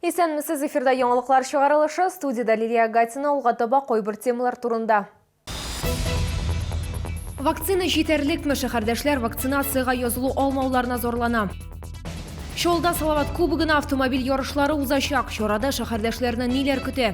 Исәнмесез, эфирда яңалыклар чыгарылышы, студиядә Лилия Агатина, алга таба кайбер темалар турында. Вакцина җитәрлекме? Шәһәрдәшләр вакцинациягә язылу алмауларына зарлана. Чолда Салават кубогына автомобиль ярышлары узачак. Чарада шәһәрдәшләрне ниләр көтә?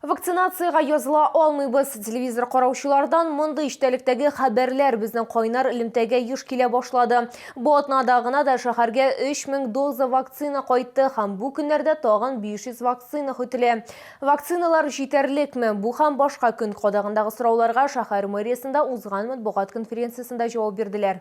Вакцинациягә языла алмыйбыз. Телевизор караучылардан мондый эчтәлектәге хәбәрләр безнең кайнар элемтәгә еш килә башлады. Бу атнада гына да шәһәргә 3000 доза вакцина кайтты һәм бу көннәрдә тагын 500 вакцина көтелә. Вакциналар җитәрлекме? Бу һәм башка көн кадагындагы сорауларга шәһәр мэриясендә узган матбугат конференциясендә җавап бирделәр.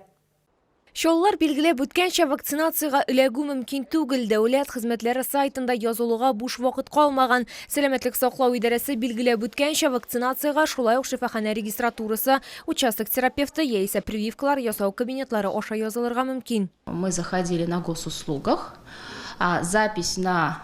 Чаллылар билгеләп үткәнчә, вакцинациягә эләгү мөмкин түгел. Дәүләт хезмәтләре сайтында язылуга буш вакыт калмаган. Сәламәтлек саклау идарәсе билгеләп үткәнчә, вакцинациягә шулай ук шифаханә регистратурасы, участок терапевты яисә прививкалар ясау кабинетлары аша язылырга мөмкин. Мы заходили на госуслугах, запись на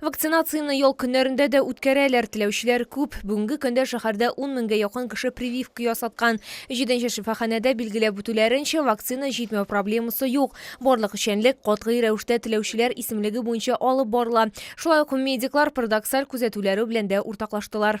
Вакцинацияне ял көннәрендә дә үткәрәләр. Теләүчеләр күп. Бүгенге көндә шәһәрдә ун меңгә якын кеше прививка ясаткан. Җиденче шифаханәдә билгеләп үтүләренчә, вакцина җитмәү проблемасы юк. Барлык эшчәнлек катгый рәвештә теләүчеләр исемлеге буенча алып барыла. Шулай ук медиклар парадоксаль күзәтүләре белән дә уртаклаштылар.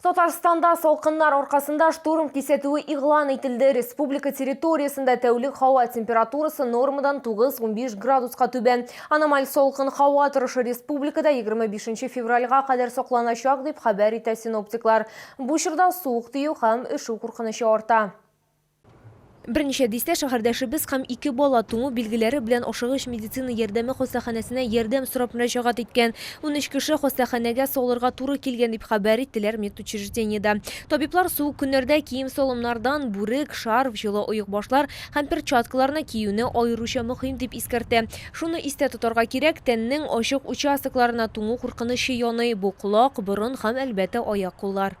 Татарстанда салкыннар аркасында штурм кисәтүе игълан ителде. Республика территориясендә тәүлек һава температурасы нормадан 9-15 градуска түбән. Аномаль салкын һава торышы республикада 25 февральга кадәр сакланачак, дип хәбәр итә синоптиклар. Бу чорда суык тию һәм өшү куркынычы арта. Берничә дистә шәһәрдәшебез һәм ике бала туңу билгеләре белән Ашыгыч медицина ярдәме хастаханәсенә ярдәм сорап мөрәҗәгать иткән. Унөч кеше хастаханәгә салырга туры килгән, дип хәбәр иттеләр медучреждениедә. Табиблар суык көннәрдә кием-салымнардан бүрек, шарф, җылы оекбашлар һәм перчаткаларны киюне аеруча мөһим дип искәртә. Шуны истә тотарга кирәк, тәннең ачык участокларына туңу куркынычы яный, бу, колак, борын һәм, әлбәттә, аяк-куллар.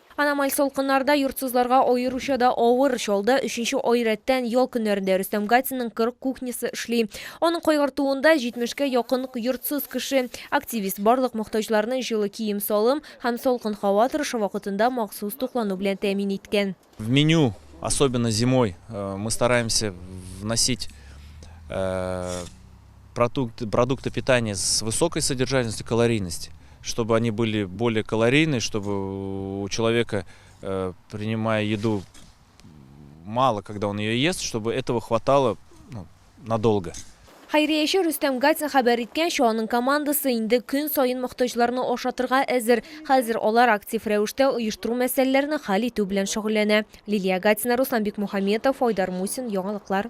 Аномаль салкыннарда йортсызларга аеруча да авыр чалды. Өченче ай рәттән ял көннәрендә Рөстәм Гатинның 40 кухнясы эшли. Аның кайгыртуында, 70 кә якын йортсыз кеше. Активист барлык мохтаҗларны җылы кием-салым һәм салкын һава торышы вакытында махсус туклану белән тәэмин иткән. В меню, особенно зимой, мы стараемся вносить. продукты, продукты питания с высокой содержательностью, калорийность, чтобы они были более калорийны, чтобы у человека, э, принимая еду, мало, когда он ее ест, чтобы этого хватало ну, надолго. Хәйрияче Рөстәм Гатин хәбәр иткәнчә, аның командасы инде көн саен мохтаҗларны ашатырга әзер. Хәзер алар актив рәвештә оештыру мәсьәләләрен хәл итү белән шөгыльләнә. Лилия Гатина, Руслан Бикмухаметов, Айдар Мусин, Яңалыклар.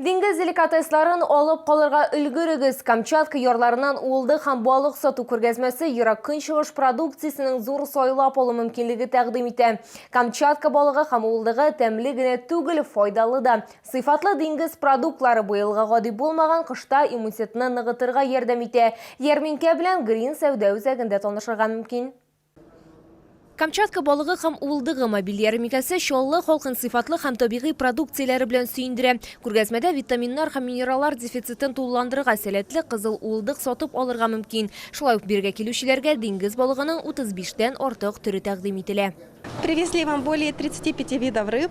Диңгез деликатесларын алып калырга өлгерегез. Камчатка ярларыннан уылды һәм балык сату күргәзмәсе ерак көнчыгыш продукциясенең зур сайлап алу мөмкинлеге тәкъдим итә. Камчатка балыгы һәм уылдыгы тәмле генә түгел, файдалы да. Сыйфатлы диңгез продуктлары быелгы гади булмаган кышта иммунитетны ныгытырга ярдәм итә. Ярминкә белән Грин сәүдә үзәгендә танышырга мөмкин. Камчатка балыгы һәм Уылдыгы мобиль ярминкәсе Чаллы халкын сыйфатлы һәм табигый продукцияләре белән сөендерә. Күргәзмәдә витаминнар һәм минераллар дефицитын тулыландырырга сәләтле кызыл уылдык сатып алырга мөмкин. Шулай ук бирегә килүчеләргә диңгез балыгының 35 тән артык төре тәкъдим ителә. Привезли вам более 35 видов рыб.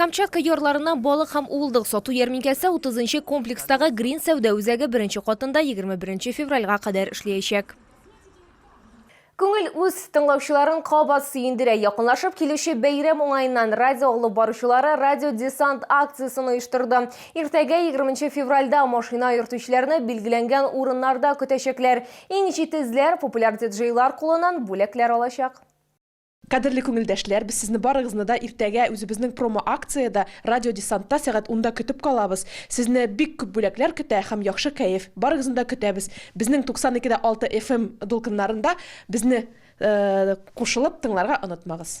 Камчатка ярларыннан балык һәм уылдык сату ярминкәсе 30 нчы комплекстагы Грин сәүдә үзәге беренче катында 21 февральгә кадәр эшләячәк. Күңел үз тыңлаучыларын кабат сөендерә. Якынлашып килүче бәйрәм уңаеннан радио алып баручылары Радио Десант акциясен оештырды. Иртәгә 20 февральдә машина йөртүчеләрне билгеләнгән урыннарда көтәчәкләр. Иң җитезләр популяр диджейлар кулыннан бүләкләр алачак. Кадерле күңелдәшләр, без сезне барыгызны да иртәгә үзебезнең промо-акциядә, Радио Десантта сәгать унда көтеп калабыз. Сезне бик күп бүләкләр көтә һәм яхшы кәеф. Барыгызны да көтәбез. Безнең 92 дә 6 FM дулкыннарында безне кушылып тыңларга онытмагыз.